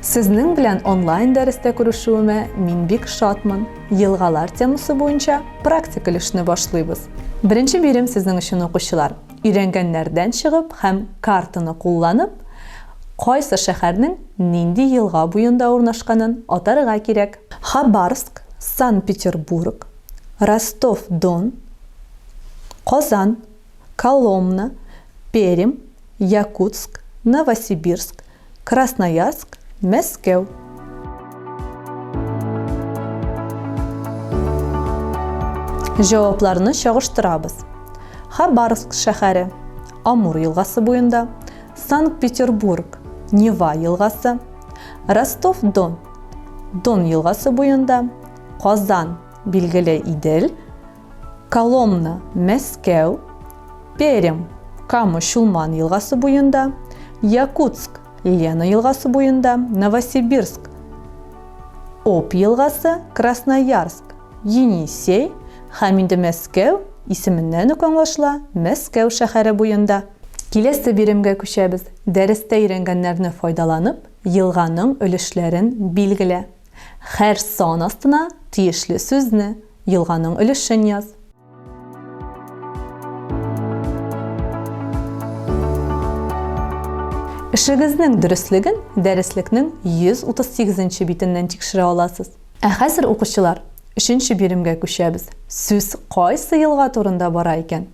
Сезнең белән онлайн дәрестә күрешүемә мин бик шатмын. Елгалар темасы буенча практик өлешне башлыйбыз. Беренче бирем сезнең өчен укучылар. Өйрәнгәннәрдән чыгып һәм картаны кулланып, кайсы шәһәрнең нинди елга буенда урнашканын атарга кирәк. Хабарск, Санкт-Петербург, Ростов-Дон, Казан, Коломна, Пермь, Якутск, Новосибирск, Красноярск, Мәскәү. Җавапларны чагыштырабыз. Хабарск шәһәре Амур елгасы буенда, Санкт-Петербург, Нева елгасы, Ростов-Дон, Дон елгасы буенда, Казан, билгеле Идел, Коломна, Мәскәү, Перем, Кама Чулман елгасы буенда, Якутск, Лена елгасы буенда, Новосибирск, Оп елгасы, Красноярск, Енисей һәм инде Мәскәү исеменнән үк аңлашыла, Мәскәү шәһәре буенда. Киләсе биремгә күчәбез. Дәрестә өйрәнгәннәрне файдаланып, Елганың өлешләрен билгелә. Хәр сан астына тиешле сүзне, елганың өлешен яз. Эшегезнең дөреслеген дәреслекнең 138 нче битеннән тикшерә аласыз. Ә хәзер, укучылар, өченче биремгә күчәбез. Сүз кайсы елга турында бара икән?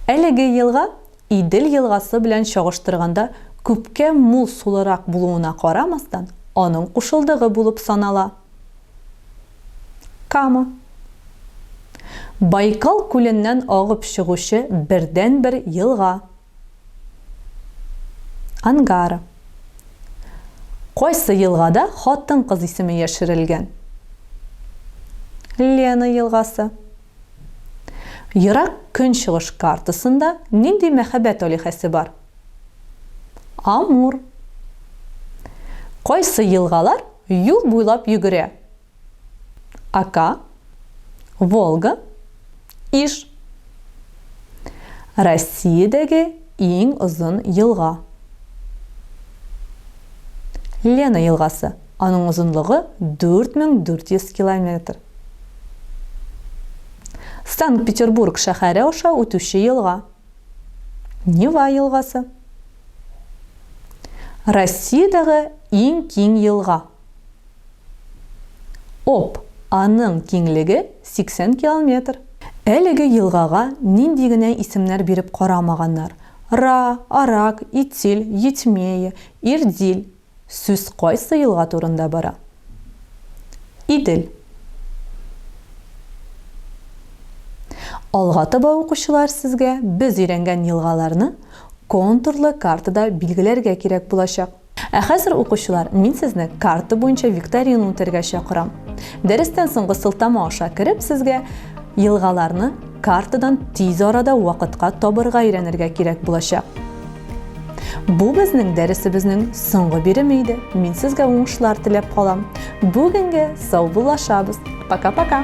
Әлеге елга Идел елгасы белән чагыштырганда күпкә мул сулырак булуына карамастан, аның кушылдыгы булып санала. Кама. Байкал күленнән агып чыгучы бердәнбер елга. Ангара. Кайсы елгада хатын-кыз исеме яшерелгән? Лена елгасы. Ерак Көнчыгыш картасында нинди мәхәббәт алиһәсе бар? Амур. Кайсы елгалар юл буйлап йөгерә? Ока, Волга, Иж. Россиядәге иң озын елга. Лена елгасы. Аның озынлыгы 4400 километр. Санкт-Петербург шәһәре аша үтүче елга. Нева елгасы. Россиядәге иң киң елга. Об аның киңлеге 80 километр. Әлеге елгага нинди генә исемнәр биреп карамаганнар, Ра, Арак, Итиль, Етьмея, Ирдиль, Сүз кайсы елга турында бара? Идел. Алга таба укучылар сезгә без өйрәнгән елгаларны контурлы картада билгеләргә кирәк булачак. Ә хәзер, укучылар, мин сезне карта буенча викторина үтәргә чакырам. Дәрестән соңгы сылтама аша кереп, сезгә елгаларны картадан тиз арада вакытка табырга өйрәнергә кирәк булачак. Бу безнең дәресебезнең соңгы биреме иде. Мин сезгә уңышлар теләп калам. Бүгенге сау булашабыз. Пока-пока.